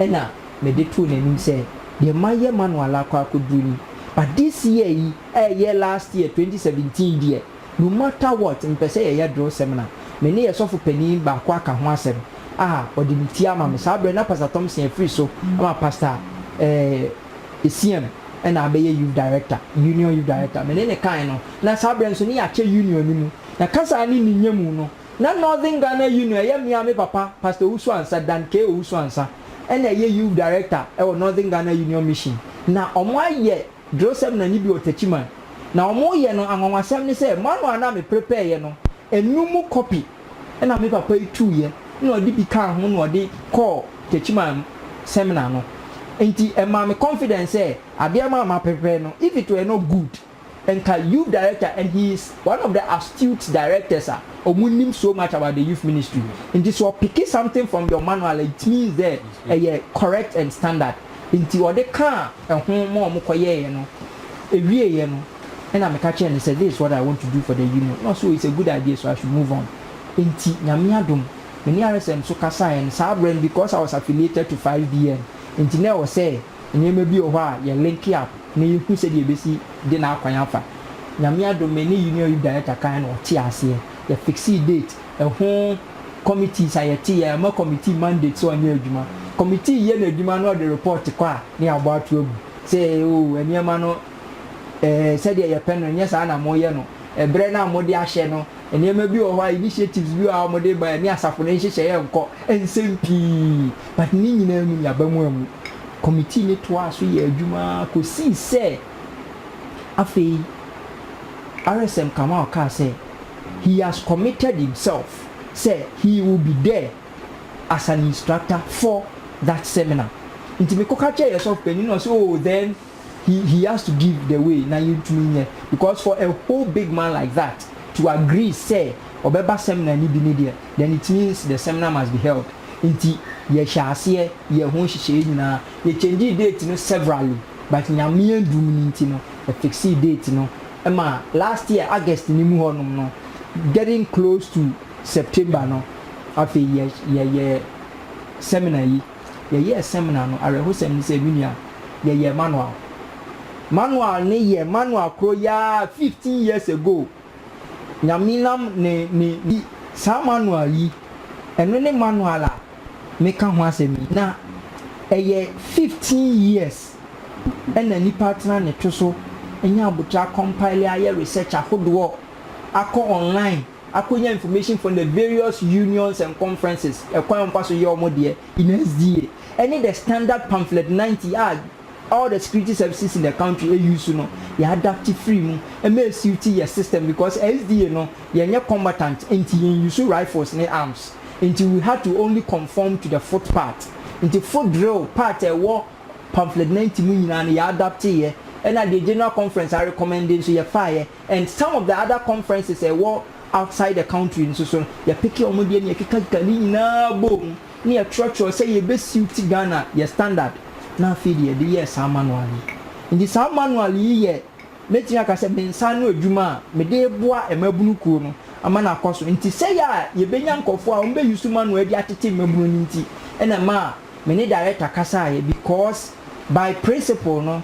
ɛna mede too n'anim sɛ deɛ mayɛ manual akɔ akɔduru ni but this year yi ɛɛyɛ last year 2017 deɛ no matter what mepɛ sɛ yɛyɛ drill seminar me ne yɛ sɔfo panin baako aka ho asɛm a ɔde ne ti ama me saa berɛ na Pastor Thompson afiri so ama Pastor eh, Esiam na abɛyɛ youth director, union youth director. Me ne no kae no, na saa berɛ no nso ne yɛakyɛ union no mu. Na kasa ne ne nya mu no, na Northern Ghana Union, ɛyɛ me ara me papa, Pastor Owusu-Ansah, Dan K. Owusu-Ansah, na ɛyɛ youth director wɔ Northern Ghana Union Mission. Na wɔayɛ drill seminar no bi wɔ Techiman. Na wɔreyɛ no, anwanwasɛm ne sɛ, manual no a meprepareeɛ no, ɛnnum mu copy. na me papa yi tuiɛ na ɔde bi kaa ho na ɔde kɔɔ Techiman seminar no nti ɛmaa me confidence sɛ adeɛ ma a maprepare no if it were not good nka youth director and he is one of the astute directors a ɔmo nim so much about the youth ministry nti sɛ ɔpicke something from your manual it means dɛ ɛyɛ correct and standard nti ɔde kaa ɛho ma wɔkɔyɛeɛ no, ɛwieeɛ no, ɛna meka kyerɛɛ no sɛ, this is what I want to do for the union, na ɔse oh it's a good idea so I should move on. Enti Nyame adom, me ne RSM nso kasaeɛ no, saa berɛ no because I was affiliated to 5BN nti na ɛwɔ sɛ nneɛma bi wɔ hɔ a yɛ link up na yɛhu sɛdeɛ yɛbɛsi de no akwan afa. Nyame adom me ne Union Youth Director kaeɛ na ɔtee aseɛ, yɛ fixee date, Ɛho committees a yɛte yɛ ama committee mandate sɛ ɔnyɛ adwuma. Committee yɛ n'adwuma na ɔde report kɔ a ne yɛabɔ ato agu sɛ oh nneɛma no eh sɛdeɛ yɛpɛ no nyɛ saa na moyɛ no. Ɛberɛ no a mode ahyɛ no nneɛma bi wɔ hɔ a initiatives bi wɔ hɔ a mode ba ɛne asafo no nhyehyɛeɛ nkɔ nsɛm pii but ne nyinaa mu no yɛaba mu ammu. Committee no toaa so yɛɛ adwuma ara kɔsii sɛ afei RSM Kamau kaa sɛ. he has committed himself sɛ he will be there as an instructor for that seminar nti me kɔ ka kyerɛ yɛ sɔfo panin na ɔsɛ oh then he he has to give the way na yɛn tumi nyɛ because for a whole big man like that to agree sɛ ɔbɛba seminar ni bi ni deɛ then it means the seminar must be held nti yɛ hyɛ aseɛ yɛ ho nhyehyɛeɛ nyinaa yɛ change date no severally but nyame adum ni nti no yɛ fixee date no. ma last year August no mu hɔ nom no getting close to September no afei yɛ yɛyɛ seminar yi yɛyɛɛ seminar no awerɛhosɛm ne sɛ me nua yɛyɛ manual manual ne yɛ manual koro yaa fifteen years ago nyame nam ne ne yi saa manual yi ɛno ne manual a meka ho asɛm yi na ɛyɛ fifteen years na nipa atena ne to so anya abotire akɔ mpaele ayɛ research ahodoɔ akɔ online akɔnya information from the various unions and conferences ɛkwan a wɔfa so yɛ wɔn deɛ in SDA ɛne the standard pamphlet ninety a all the security services in the country use no yɛ adapte firi mu ma ɛsuiti yɛ system because SDA no yɛnyɛ combatant nti yɛn use rifles ne arms nti we had to only conform to the foot part nti foot drill part a ɛwɔ Pamphlet ninety no nyinaa no yɛ adapteeɛ ɛna deɛ General Conference a recommend nso yɛfaeɛ and some of the other conferences a ɛwɔ outside the country nso so no yɛpeke wɔn deɛ na yɛkekakeka ne nyinaa bɔɔ mu na yɛtwerɛtwerɛ sɛ yɛbɛ suit Ghana yɛ standard na afei de yɛde yɛɛ saa manual yi. Nti saa manual yi yɛ mɛtumi aka sɛ me nsa ano adwuma a mede reboa mmabunu kuo no ama no akɔ so nti sɛeɛ a yɛbɛnya nkurɔfoɔ a wɔbɛ use manual yi de atete mmabunu no nti na ɛma Me ne director kasaeɛ because by principle no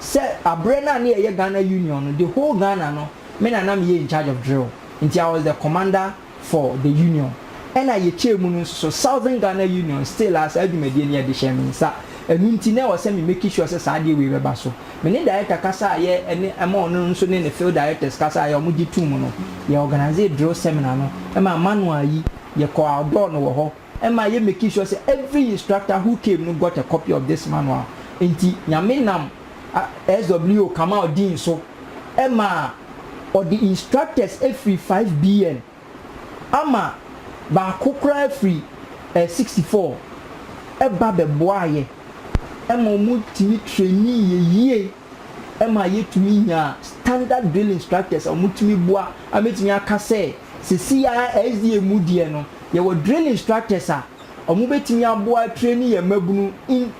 sɛ aberɛ no a na yɛyɛ Ghana Union no the whole Ghana no me na na meyɛ in charge of drill nti I was the commander for the Union ɛna yɛkyɛɛ mu no nso so Southern Ghana Union still a saa dwumadie no yɛde hyɛɛ me nsa ɛno nti na ɛwɔ sɛ me make sure sɛ saa adeɛ wei bɛba so me ne director kasaeɛ ɛne ɛma ɔno nso ne ne field directors kasaeɛ a wɔgye too mu no yɛ organise drill seminar no ɛma manual yi yɛkɔɔ outdoor no wɔ hɔ. ɛma yɛ making sure sɛ every instructor who came no got a copy of this manual. Nti Nyame nam SWO Kamau Dean so ɛma ɔde instructors firi 5BN ama baako koraa firi 64 ɛba bɛboaa yɛ ɛma ɔmo tumi trainee yɛ yie ɛma yɛ tumi nyaa standard drill instructors a ɔmo tumi boa a mɛtumi aka sɛ sɛsei ara SDA mu deɛ no Yɛwɔ drill instructors a ɔmo bɛtumi aboa atraini yɛn mmabunu in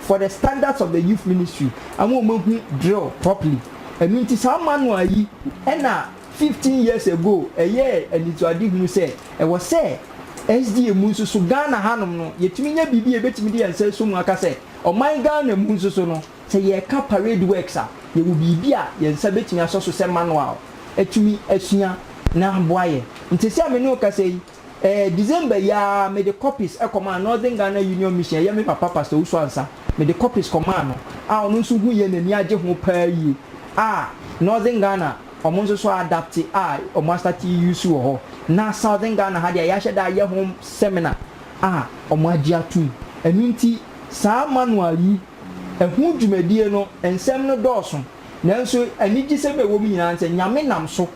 for the standards of the youth ministry ama ɔmo ahu drill properly. Ɛno nti saa manual yi ɛna fifteen years ago ɛyɛɛ anisoadehunu sɛ ɛwɔ sɛ SDA mu nso so Ghana hanom no yɛtumi nya biribi a yɛbɛtumi de yɛn nsa asɔ mu aka sɛ ɔman Ghana mu nso so no Sɛ yɛreka Parade Works a, yɛwɔ biribi a yɛn nsa betumi asɔ so sɛ manual atumi asua na aboa yɛn. Enti sɛ me ne wo kasa yi, ɛɛ, December yi ara mede copies kɔmaa Northern Ghana Union Mission a ɛyɛ me papa Pastor Owusu Ansah, mede copies kɔmaa no a ɔno nso hui yɛ n'ani agye ho paa yie a Northern Ghana wɔn nso so adapte a wɔn astate use wɔ hɔ na Southern Ghana ha deɛ a yɛahyɛ da ayɛ ho seminar a wɔagye atom. Ɛno nti saa manual yi. Ɛho dwumadie no nsɛm no dɔɔso, nanso anigyesɛm a ɛwɔ mu nyinaa ne sɛ Nyame nam so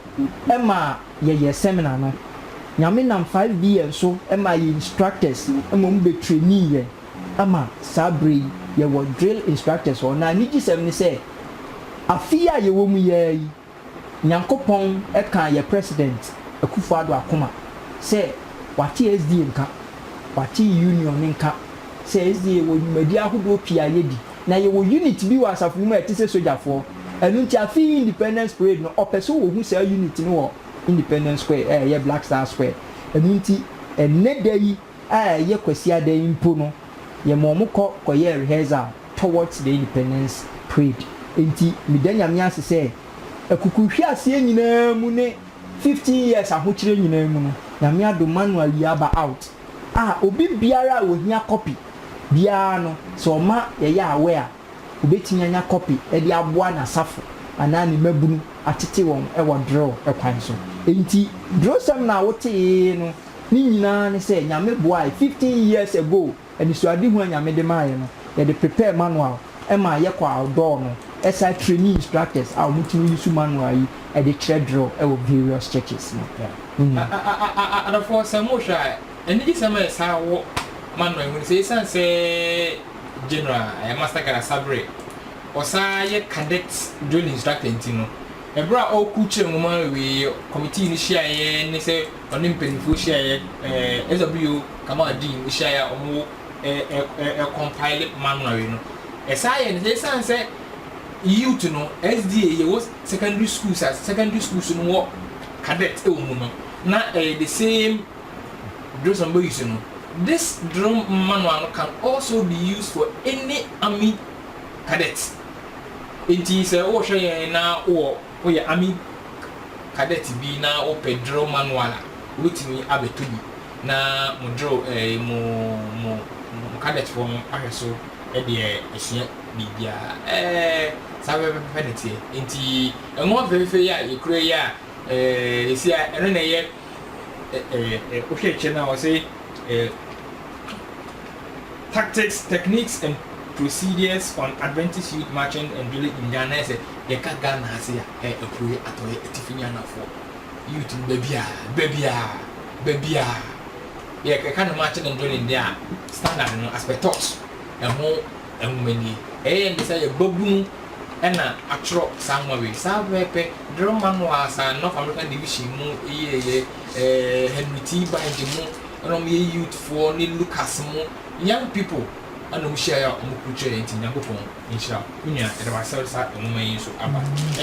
ma yɛyɛ seminar no. Nyame nam 5B yɛn so maa yɛn instructors ma wɔn bɛ trainii yɛn ama saa berɛ yi yɛwɔ drill instructors hɔ. Na anigyesɛm ne sɛ afe yi a yɛwɔ mu yi ara yi Nyankopɔn kaa yɛ President Akufo Addo akoma sɛ wate SDA nka, wate Union nka sɛ SDA yɛwɔ nwumadi ahodoɔ pii a yɛdi na yɛwɔ unit bi wɔ asafo no mu a ɛte sɛ sogyafoɔ. Ɛno nti afe yi Independence Parade no ɔpɛ sɛ ɔhu saa unit no wɔ Independence Square a ɛyɛ Black Star Square. Ɛno nti ɛnnɛ da yi. a ɛyɛ Kwasiada yi mpo no, yɛma wɔn kɔ kɔyɛ rehearsal towards the independence parade. Enti meda Nyame ase sɛ akukuruhweaseɛ nyinaa mu ne fifteen years ahokyerɛ nyinaa mu no, Nyame adom manu awie aba out a obi biara a ɔhia copy biara no, sɛ ɔma yɛyɛ aware a, ɔbɛtumi anya copy de aboa n'asafo anaa ne mmabunu atete wɔn wɔ drill kwan so. Enti drillsɛm na wotee no. Ne nyinaa ne sɛ Nyame boae fifteen years ago anisoadehu a Nyame de maaeɛ no yɛde prepare manual ma yɛ kɔ outdoor no ɛsan traini instructors a wɔn tumi use manual yi de kyerɛ drill wɔ various churches no mu. Adɔfoɔ sɛ mo hwɛ a anigye sɛm a yɛ saa wɔ manual yi mu ne sɛ ɛsiane sɛ General Master Gada Sabere ɔsan yɛ Cadet drill instructor nti no ɛberɛ a ɔrekurukyerɛ nwoma wei committee no hyiaeɛ ne sɛ Ɔne mpanyimfoɔ hyiaeɛ, SW Kamal Dean hyiaeɛ a wɔwɔ compile manual no. Ɛsaa yɛ no sɛ ɛsiane sɛ youth no SDA yɛwɔ secondary schools a secondary schools no wɔ cadet wɔ mu no na ɛyɛ the same drills wɔn bɛ use no. This drill manual no can also be used for any army cadet. Nti sɛ wohwɛ yɛn na wowɔ. Woyɛ Army Cadet bi na wopɛ drill manual a, wobɛtumi abɛtɔ bi na mo drill ɛɛ mo mo mo cadetfoɔ no ahwɛ so deɛ ɛsua biribiara. Ɛɛ saa pɛpɛpɛpɛ na ɛteɛ. Nti nwoma fɛfɛɛfɛ yi a yɛkura yi a ɛɛ seesei a ɛno na ɛyɛ. wohwɛ kyɛ no a wɔse tactics, techniques and procedures on Adventist youth marching and drilling in Ghana, ayɛ sɛ yɛka Ghana ase a ɛyɛ apueɛ, atɔeɛ, atifi ne anafoɔ youth no baabiaa, baabiaa, baabiaa yɛka no marching and drilling deɛ a standard no as per thought ɛho nwoma nie. Ɛyɛ ne sɛ yɛ babunu na atwerɛ saa nwoma wei. Saa berɛ yi pɛ, Darrell Manoa san ne North American Division mu yeeɛ, ɛɛ Henry T. Bynde mu na wɔyɛ youthfoɔ ne Lucas mu young people na wɔhyiaeɛ a wɔkurukyerɛeɛ nti Nyankopɔn nhyira wo. Me nua, yɛda wo ase a wode saa nwoma yi nso aba.